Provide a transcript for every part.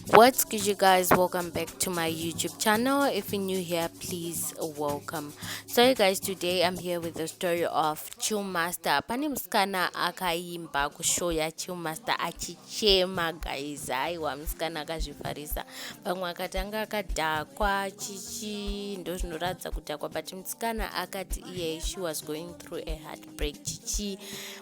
what's good you guys welcome back to my youtube channel if you're new here please welcome so you guys today i'm here with the story of chill master pane musikana akaimba kushow ya chill master achichema guys aiwa musikana akazvifarisa pamwe akatanga akadhakwa chichi ndozvinoratidza kudhakwa but musikana akati iye she was going through a hard break chichi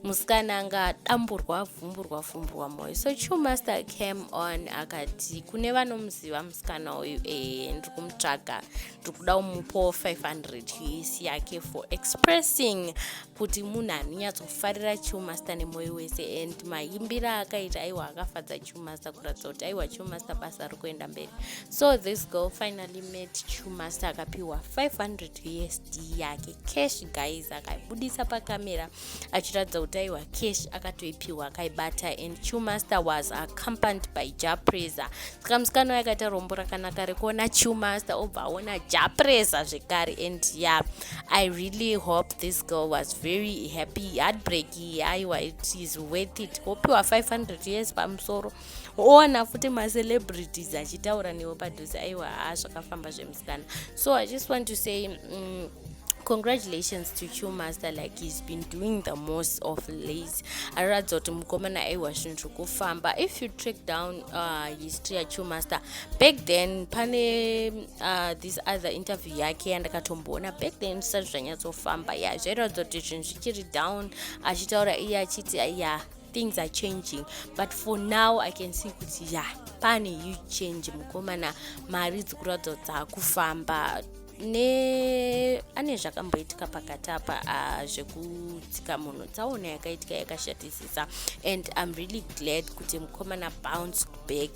musikana anga adamburwa avhumburwa vhumburwa moyo so chu master came on akati kune vanomuziva musikana uyu ee ndiri kumutsvaga ndiri kuda umupo 500 us yake for expressing kuti munhu anonyatsofarira chu master nemoyo wese and mayimbira akaita aiwa akafadza chu master kuratidza kuti aiwa chu master basa riri kuenda mberi so this girl finally met chu master akapiwa 500 usd yake cash guys akaibudisa pakamera achiratidza kuti aiwa cash akatoipiwa akaibata and chewmaster was accompanied by japresa saka musikana wayo akaita rombo rakanaka rekuona chewmaster obva aona japresa zvekare and ya yeah, i really hope this girl was very happy heartbreak aiwa it is worth it wopiwa 500 years pamusoro oona futi macelebrities achitaura newo padhuze aiwa haa zvakafamba zvemusikana so i just want to say um, congratulations to chu master like he's been doing the most of lays aratidza kuti mukomana aiwa zvinhu zviri kufamba if you track down uh, history yachu master back then pane uh, this other interview yake yandakatomboona back then zvisati zvanyatsofamba ya zvairatidza kuti zvinhu zvichiri down achitaura iye achiti ya yeah, things are changing but for now i can see kuti ya yeah, pane huge change mukomana mari dzikuratidza kuti dzakufamba ne ane zvakamboitika pakati apa ah, zvekutsika munhu tsaona yakaitika yakashatisisa and im really glad kuti mukomana bounce back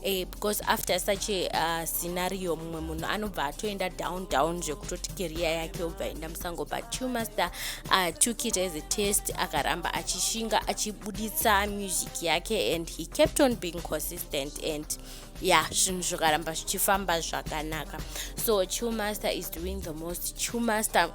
eh, because after such a uh, scenario mumwe munhu anobva atoenda down down zvekutoti keriya yake obva enda musango but two master uh, took it as a test akaramba achishinga achibuditsa music yake and he kept on being consistent and ya zvinhu zvikaramba zvichifamba zvakanaka so two master is doing the most two master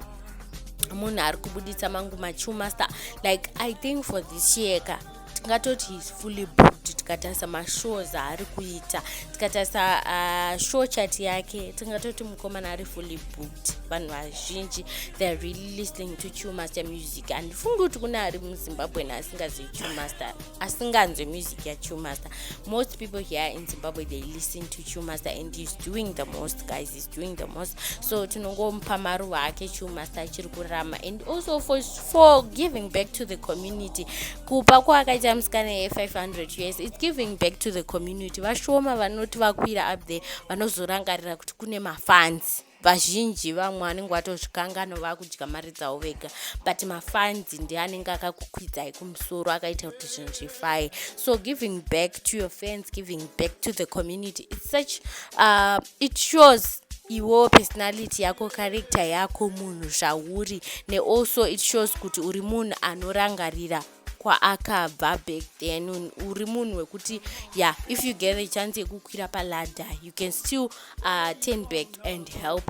munhu ari kubuditsa mangu machu master like i think for this year ka tingatoti he's fully booked tikatarisa mashows aari kuita tikatarisa uh, show chat yake tingatoti mukomana ari fully booked vanhu vazhinji theyare really listening to chewmaster music andifungi kuti kune ari muzimbabwe naasingazivi chewmaster asinganzwe music yachewmaster most people here in zimbabwe they listen to chewmaster and he's doing the most guys doing the most so tinongomupa maruva ake chuma saachiri kurarama and also for, for giving back to the community kupa kwaakaita musikana ye 500 years its giving back to the community vashoma vanoti vakwira up there vanozorangarira kuti kune mafanzi vazhinji vamwe vanenge vatozvikangano vakudya mari dzavo vega but mafanzi ndi anenge akakukwidzai kumusoro akaita kuti zvinhu zvifaye so giving back to your fans giving back to the community its such uh, it shows iwewo personality yako character yako munhu zvauri nealso it shows kuti uri munhu anorangarira kwaakabva back then uri munhu wekuti yeah if you get a chance yekukwira paladder you can still uh, turn back and help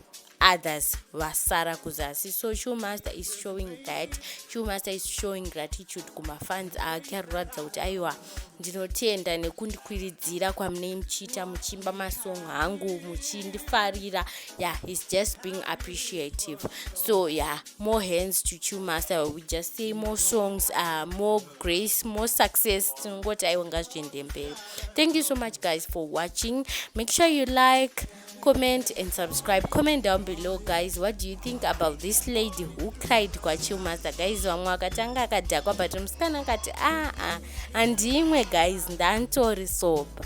others vasara kuzasi so showmaster is showing that showmaster is showing gratitude kumafans ake ari kuratidza kuti aiwa ndinotenda nekundikwiridzira kwamunei muchiita muchimba masong hangu muchindifarira yeah he's just being appreciative so yeah more hands to showmaster we just say more songs uh, more grace more success tinongoti aiwa ngazviende mberi thank you so much guys for watching make sure you like comment and subscribe comment down below guys what do you think about this lady who cried kwachilmaster guys vamwe vakatanga akadhakwa but musikana akati aa ah, ah, handimwe guys ndantori sopa